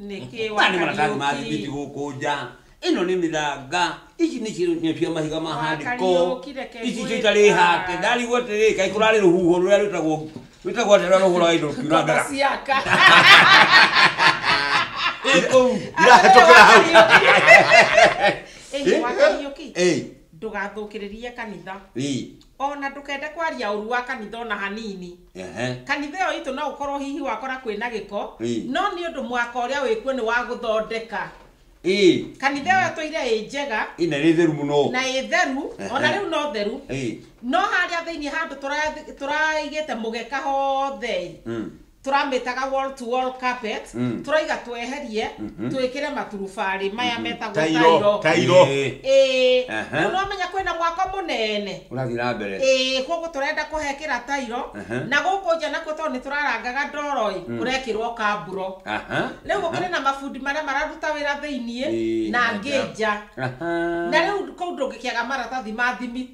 nĩkĩ na nĩ maratathi ma thimiti gũkũ nja ĩno nĩ mĩthanga ici nĩ ci- nĩ cia mahiga ma handĩko Wakariũki, reke ici ngwĩka. citarĩ hake ndarigwo atĩrĩ kaĩ kũrarĩ rũhuho rũrĩa rwĩtagwo rwĩtagwo atĩ rũrĩa rũhũraga indo rũkiura ndara ciaka ĩ kũu irahĩtũkĩra hau ĩĩ wakariũki Ĩ, ndũgathũkĩrĩrie kanitha ĩ. ona ndũkende kwaria ũru wa kanitha ona hanini Ehe. kanitha ĩyo itũ no ũkorwo hihi wakora kwĩna gĩko Ĩĩ. no nĩ ũndũ mwaka ũrĩa wĩkuo nĩ wa gũthondeka Ĩĩ. kanitha ĩyo tũire ĩ njega Ĩĩ, na ĩrĩ theru mũno na ĩ theru Ehe. ona rĩu no theru Ĩĩ. no harĩa thĩinĩ handũ tũra- tũraigĩte mũgeka hothe Mm. tũramĩtaga wall to wall carpet Mm. tũraiga tweherie Mhm. twĩkĩre maturubarĩ maya metagwo tairo tairo tairo Ĩĩ. ĩĩ Aha. rĩu nĩwamenya kwĩna mwako mũnene ũrathiĩ na mbere ĩĩ koguo tũrenda kũhekĩra tairo Aha. na gũkũ nja nakuo tondũ nĩ tũrarangaga ndoro-ĩ Mm. kũrekĩrwo kamburo aha rĩu gũkĩrĩ na mabundi marĩa mararuta wĩra thĩiniĩ Ĩĩ, na na angĩ nja. nja Aha. na rĩu kũu ndũngĩkĩaga maratathi ma thimiti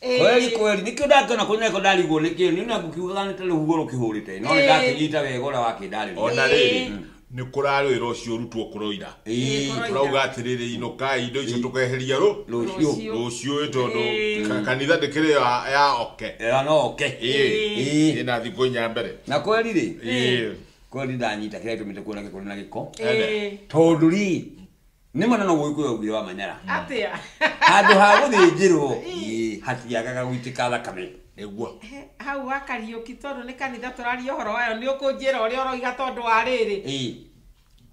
kweli kweli nikio ndakĩona kũrĩ neko ndarigwo nĩkĩ nĩ na ngũkiugaga nĩ ta rũhuho rũkĩhũrĩte no nĩ ndakĩnyita wega ũrĩa wakĩndarĩria ona rĩrĩ Ĩĩ. nĩ kũrarwĩra ũcio ũrutwo kũroira Ĩĩ, kũroira. turauga atĩrĩrĩ inũkai indo icio tũkeheria rũ rũciũ Rũciũ. rũciũ ĩ tondũ Ĩĩ. ka- kanitha ndĩkĩrĩ ya- ya oke ĩra no oke Ĩĩ. Ĩĩ. ĩna thikũ inya mbere na kweli rĩ Ĩĩ. kweli ndanyita kĩrĩa gĩtũmĩte kuona gĩkũrĩ na gĩko Ĩĩ. tondũ rĩ nĩ ma nono gũgĩkũyũ augire wa manyara atĩa handũ ha gũthĩnjĩrwo ĩ, hatiagaga gũitĩka thakame nĩguo He, hau wa kariũki tondũ nĩ kanitha tũraria ũhoro wayo nĩ ũkũnjĩra ũrĩa ũroiga tondũ wa rĩrĩ Ĩ,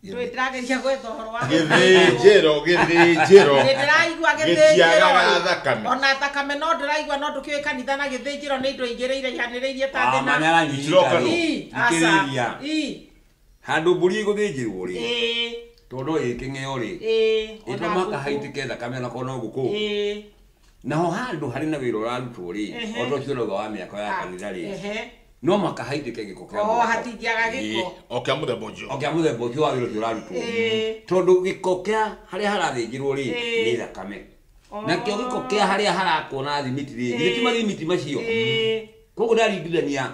ndũĩ ndĩrageria gwetha ũhoro wa gĩthĩnjĩro gĩthĩnjĩro Nĩ ndĩraigua gĩtiagaga gĩthĩnjĩro thakame ona thakame no ndĩraigua no ndũkĩũĩ kanitha na gĩthĩnjĩro nĩ indo igĩrĩire ihanĩrĩirie ta wa thĩ na manyara Itiroka nyita no. Ii, aca, thikĩrĩria ii. Handũ mbũri ĩgũthĩnjĩrwo-rĩ, Ĩĩ, tondũ no ĩkĩng'eo-rĩ, ĩĩ, ĩ ona to mũhaka ngũkũ. haitĩke thakame ona korwo no ngũkũ. Ĩĩ, Naho handũ harĩ na wĩra ũrarutwo-rĩ, Ehe. o ta ũcio ũrauga wa mĩako ya kanitha-rĩ, ehe. no mũhaka haitĩke gĩko kĩa Oo, mwako. hatingĩaga Ĩĩ. gĩko. O kĩa mũthemba ũcio. o kĩa mũthemba ũcio wa wĩra ũcio ũrarutwo Ĩĩ. tondũ gĩko kĩa harĩa harathĩnjĩrwo rĩ Ĩĩ. nĩ thakame Oo. nakĩo gĩko kĩa harĩa harakwo na thimiti rĩ githĩ ti Ĩĩ. mathimiti macio Ĩĩ, koguo ndaringithania